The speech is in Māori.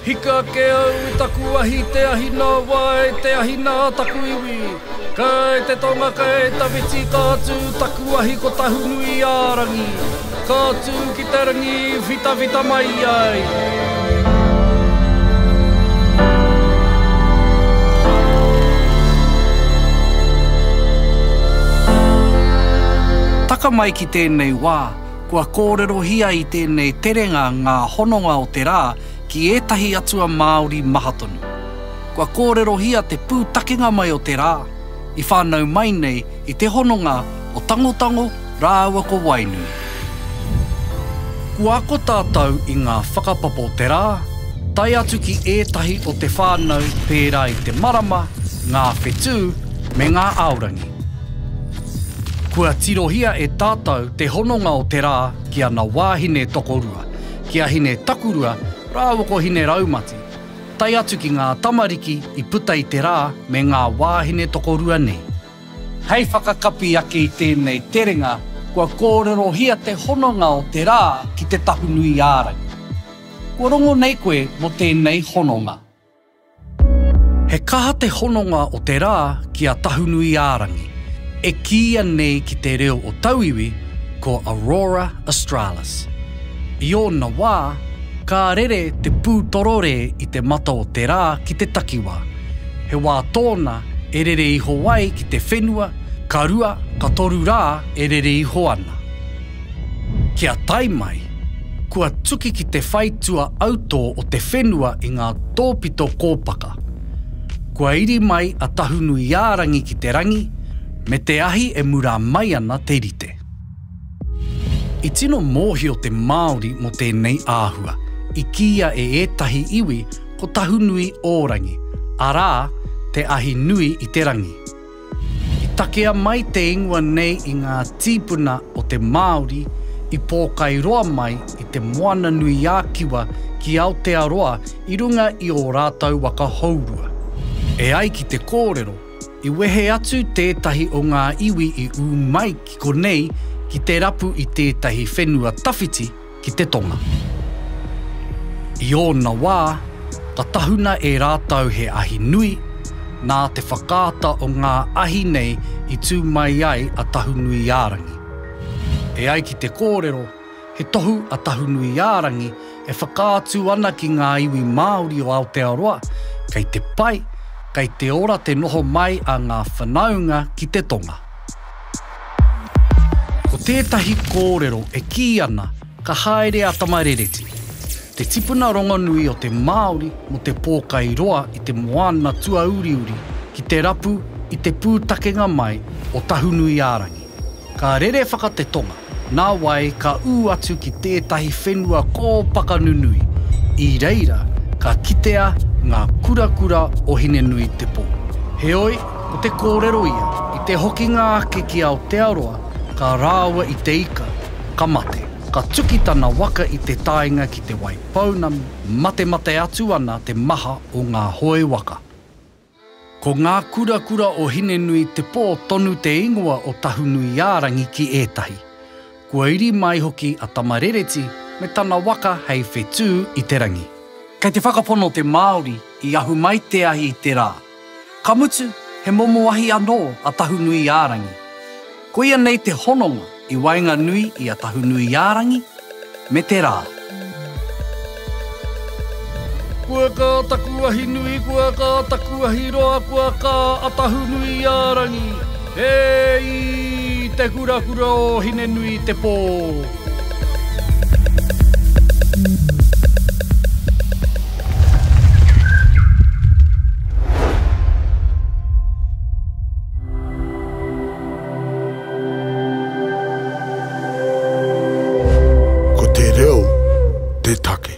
Hika ake au i taku ahi te ahi nā wā e te ahi nā taku iwi Kai te tonga kai tawhiti ka tū taku ahi ko Tahunui-ā-rangi Ka tū ki te rangi i whitawhita mai ai tēnei wā, kua kōrerohia i tēnei terenga ngā hononga o te rā ki ētahi atua Māori maha tonu. Kua kōrerohia te pūtakenga mai o te rā, i whānau mai nei i te hononga o Tangotango rāua ko Wainui. Kua ako tātou i ngā whakapapa o te rā, tae atu ki ētahi o te whānau pērā i te marama, ngā whetū, me ngā aorangi. Kua tirohia e tātau te hononga o te rā ki ana wāhine tokorua, ki a hine takurua rāua ko hine raumati, tae atu ki ngā tamariki i puta i te rā me ngā wāhine tokorua nei. Hei whakakapi ake i tēnei terenga, kua kōrerohia te hononga o te rā ki te Tahunui-ā-rangi. Kua rongo nei koe mō tēnei hononga? He kaha te hononga o te rā ki a Tahunui-ā-rangi, e kīia nei ki te reo o tauiwi ko Aurora Australis. I ōna wā, ka rere te pū tororē i te mata o te rā ki te takiwā. He wā tōna e rere iho ai ki te whenua, ka rua, ka toru rā e rere iho ana. Kia tae mai, kua tuki ki te whai tua autō o te whenua i ngā tōpito kōpaka. Kua iri mai a Tahunuiārangi ki te rangi, me te ahi e murā mai ana te rite. I tino mōhio te Māori mō tēnei āhua, i kīia e ētahi iwi ko Tahunuiōrangi, arā, te ahi nui i te rangi. I takea mai te ingoa nei i ngā tīpuna o te Māori i pōkai roa mai i te Moana-nui-ā-Kiwa ki Aotearoa i runga i ō rātou waka hourua. E ai ki te kōrero, i wehe atu tētahi o ngā iwi i ū mai ki konei ki te rapu i tētahi whenua tawhiti, ki te tonga. I ōna wā, ka tahuna e rātou he ahi nui, nā te whakaata o ngā ahi nei i tū mai ai a Tahunuiārangi. E ai ki te kōrero, he tohu a Tahunuiārangi e whakaatu ana ki ngā iwi Māori o Aotearoa, kei te pai, kei te ora te noho mai a ngā whanaunga ki te tonga. Ko tētahi kōrero e kī ana ka haere a Tamarereti, te tipuna rongonui o te Māori mō te pōkai roa i te moana tuauriuri ki te rapu i te pūtakenga mai o Tahunuiārangi. Ka rere whaka te tonga. Nā wai ka ū atu ki tētahi whenua kōpaka nunui, i reira ka kitea ngā kurakura o Hinenuitepō. Heoi, ko te kōrero ia, i te hokinga ake ki Aotearoa, ka rāua i te ika, ka mate. Ka tuki tana waka i te taenga ki Te Waipounamu, matemate atu ana te maha o ngā hoe waka. Ko Ngākurakura o Hinenui Te Pō tonu te ingoa o Tahunuiārangi ki ētahi. Kua iri mai hoki a Tamarereti me tana waka hei whetū i te rangi. Kei te whakapono te Māori i ahu mai te ahi i te rā. Ka mutu, he momo ahi anō a Tahunuiārangi. Koia nei te hononga i waenganui i a Tahunuiārangi me te rā. Kua kā taku ahi nui, kua kā taku ahi roa, kua kā a Tahunuiārangi, e i te kurakura o Hinenuitepō. Ko te reo te take.